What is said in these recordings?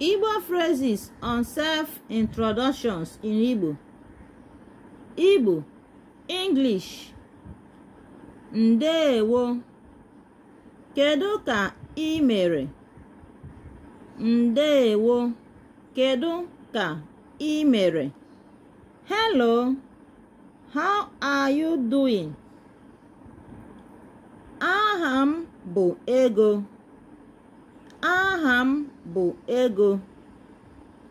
Igbo phrases on self-introductions in Igbo. Igbo, English. Ndewo. Kedu ka ị mere? Ndewo. Kedu ka ị mere? hello how are you doing aha m bụ Ego aha m bụ Ego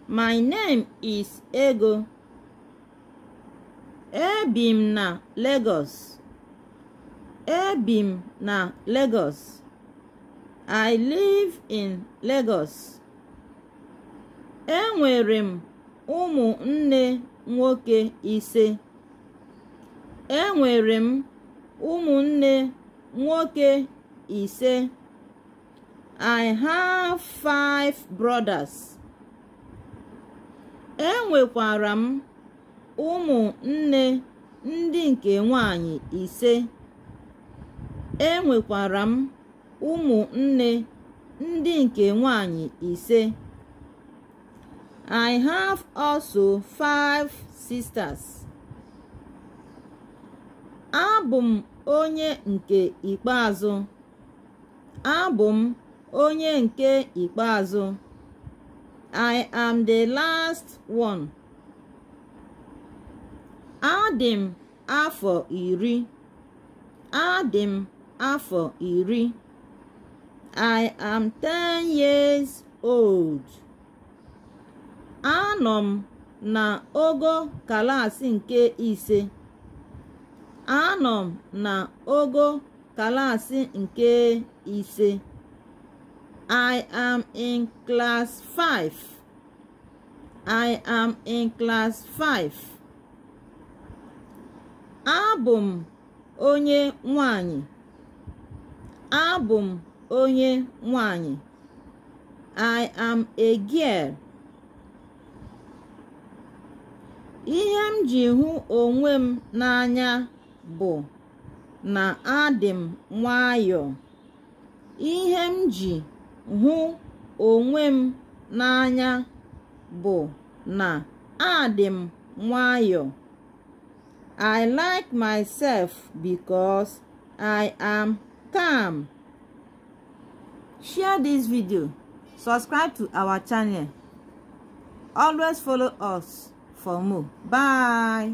my name is Ego ebi m na Lagos ebi m na Lagos I live in Lagos. Enwere m ụmụnne nwoke ise enwere m ụmụnne nwoke ise I have five brothers enwekwara m ụmụnne ndị nke nwanyị ise enwekwara m ụmụnne ndị nke nwanyị ise I have also five sisters. Abụ m onye nke ikpeazụ. Abụ m onye nke ikpeazụ. I am the last one. Adị m afọ iri adị m afọ iri I am ten years old anọ m na ogo kalaasị nke ise anọ m na ogo kalaasị nke ise I am in class 5. I am in class 5 abụ m onye nwanyị abụ m onye nwanyị I am a girl ihe m ji hụ onwe m n'anya bụ na adị m nwayọọ ihe m ji hụ onwe m n'anya bụ na adị m nwayọọ I like myself because I am calm share this video subscribe to our channel always follow us for more bye